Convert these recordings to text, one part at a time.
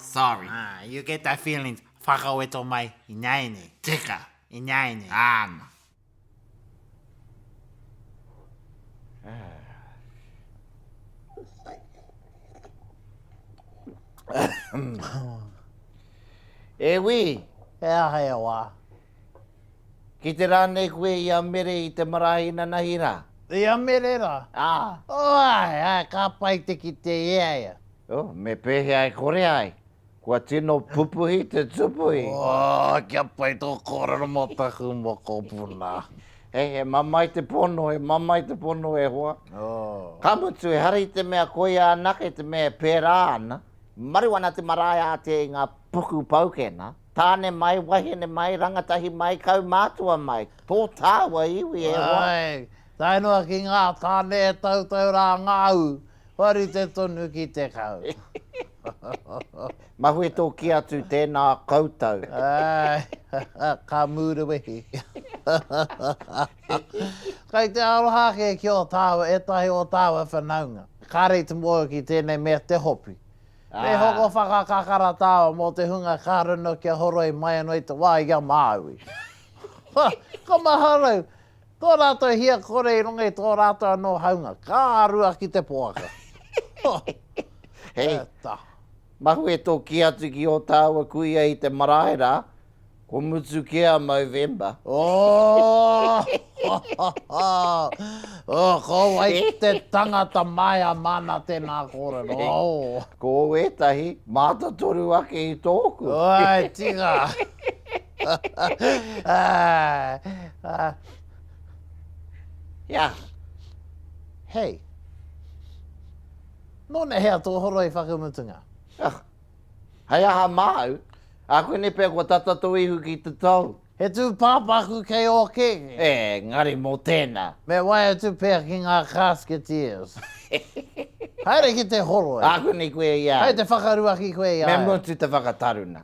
Sorry. Ah, you get that feelings. Whakaweto mai, ināianei. Tika, ināianei. Āna. E wī! He aha e wā? Ki te rā nei koe i a Mere i te marae inanahi rā? I a Mere rā? Ā. Oai, ā, ka pai te kite i a ia. Oh, me pēhea e kore ai? Kua tino pupuhi te tupuhi. Oh, kia pai tō kōrero mō taku mokopuna. Hei, he mamae te pono, he mamae te pono e hoa. Oh. Ka mutu, ehara i te mea koia anake te mea e pērā ana. Maru ana te marae ātea i ngā puku paukena, tāne mai, wahine mai, rangatahi mai, kaumātua mai, tō tāua iwi e hoa. Āe, tae noa ki ngā tāne e tautau rā ngā ū, Kua rite tonu ki te kau. Mahue tō kī atu tēnā koutou. Āe, ka mūrewehi. Kei te aroha ake ki ō tāua, ētahi o tāua whanaunga. Kāre i te mōhio ki tēnei mea te hopi. Me hoko whakakakara tāua mō te hunga ka runa kia horoi mai anō i te wā i a Māui. Ka maharau! Tō rātou hia kore i runga i tō rātou anō haunga, ka rua ki te poaka. Hei, mahue tō kī atu ki ō tāua kuia i te marae rā, kua mutu kē a Movember. Ooh! Ko wai te tangata maea māna tēnā kōrero, oo. Ko ētahi mātatoru ake i tōku. Āe, tika! Yeah. Hei. Nōna hea tō horoi whakamutunga? Ah. Hei aha māu? A koe nei pea kua tata tō ihu ki te tau? He tū pāpaku kei ō kēkē. E, ngari mō tēnā. Me wae atu pea ki ngā Casketeers. Haere ki te horoi. A koe nei koe i a au. Hei te whakaruaki koe i a au. Me mutu te whakataruna.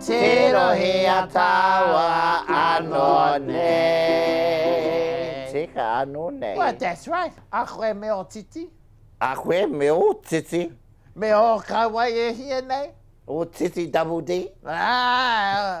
Tero he atawa ano nei. Tika ano nei. Well that's right, a koe me o titi. A koe me o titi. Me o kawai e hia nei. O titi double D. Aah.